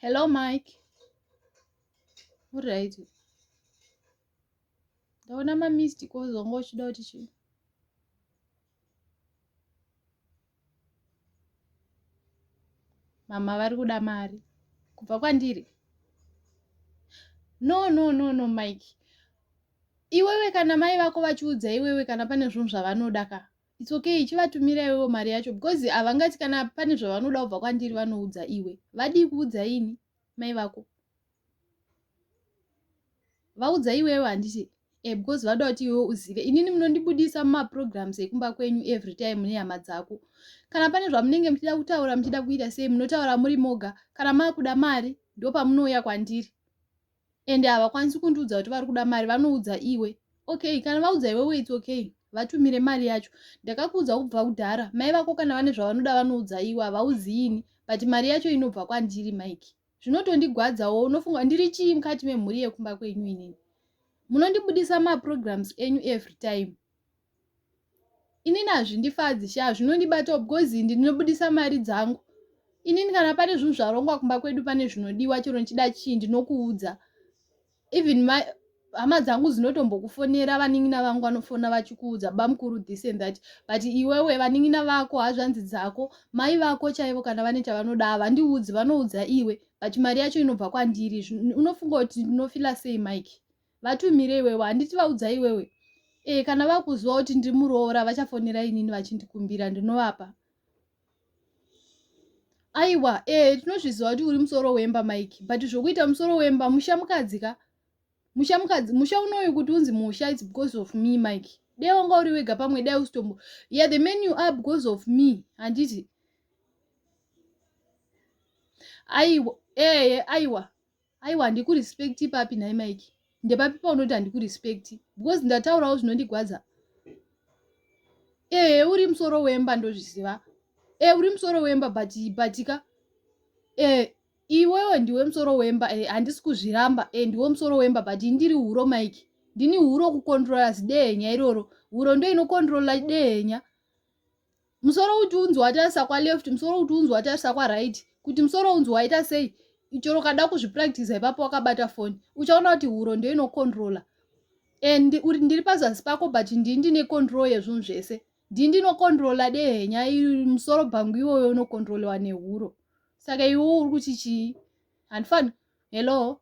Hello, Mike. All right. Ndaona ma missed calls wanga uchida kuti chii? Mama vari kuda mari kubva kwandiri. No, no, no, no, Mike. Iwewe kana mai vako vachiudza iwewe kana pane zvinhu zvavanoda ka its okay chivatumira iwewo mari yacho because havangati kana pane zvavanoda kubva kwandiri vanoudza iwe vadii kuudza ini mai vako vaudza iwewo handiti e because vada kuti iwewo uzive inini munondibudisa mumaprograms ekumba kwenyu every time nehama dzako kana pane zvamunenge muchida kutaura muchida kuita sei munotaura muri moga kana maakuda mari ndopamunouya kwandiri and havakwanisi kundiudza kuti vari kuda mari vanoudza iwe okay kana vaudza iwewe its okay vatumire mari yacho ndakakuudza kubva kudhara mai vako kana vane zvavanoda vanoudza iwe havauziini but mari yacho inobva kwandiri mike zvinotondigwadzawo unofunga ndiri chii mukati memhuri yekumba kwenyu inini munondibudisa maprograms enyu every time inini hazvindifadzi sha zvinondibatawo because indi ndinobudisa mari dzangu inini kana pane zvinhu zvarongwa kumba kwedu pane zvinodiwa chero ndichida chii ndinokuudza even my hama dzangu dzinotombokufonera vanin'ina vangu vanofona vachikuudza bamukuru this and that but iwewe vanin'ina vako hazvanzi dzako mai vako chaivo kana vane chavanoda havandiudzi vanoudza iwe but mari yacho inobva kwandiri unofunga kuti ndinofila sei mike vatumire iwewe handiti vaudza iwewe e kana vakuziva kuti ndiri muroora vachafonera inini vachindikumbira ndinovapa aiwa e tinozviziva kuti uri musoro wemba mike but zvokuita musoro wemba musha mukadzi ka musha mukadzi musha unoyu kuti unzi musha its because of me mike dai wanga uri wega pamwe dai usitombo ya yeah, the man you are because of me handiti aiwa eye aiwa aiwa handiku respect papi nhai mike ndepapi paunoti handiku respect because ndataurawo zvinondigwadza ee uri musoro wemba ndozviziva ee uri musoro wemba but batika ee iwewe ndiwe musoro wemba e handisi kuzviramba e ndiwe musoro wemba but ndiri huro mike ndini huro kukondrola zidehenya iroro huro ndoinokondrola dehenya musoro kuti unzi watarisa kwaleft musoro kuti unzi watarisa kwaright kuti musoro unzi waita sei chero ukada kuzvipractisa ipapo wakabata foni uchaona kuti huro ndo inocontrola and uri ndiri pazasi pako but ndii ndine control yezvunhu zvese ndii ndinocontrola dehenya musoro bhangu iwoyo unocontrolewa nehuro saka iwo uri kuti chii handifani hello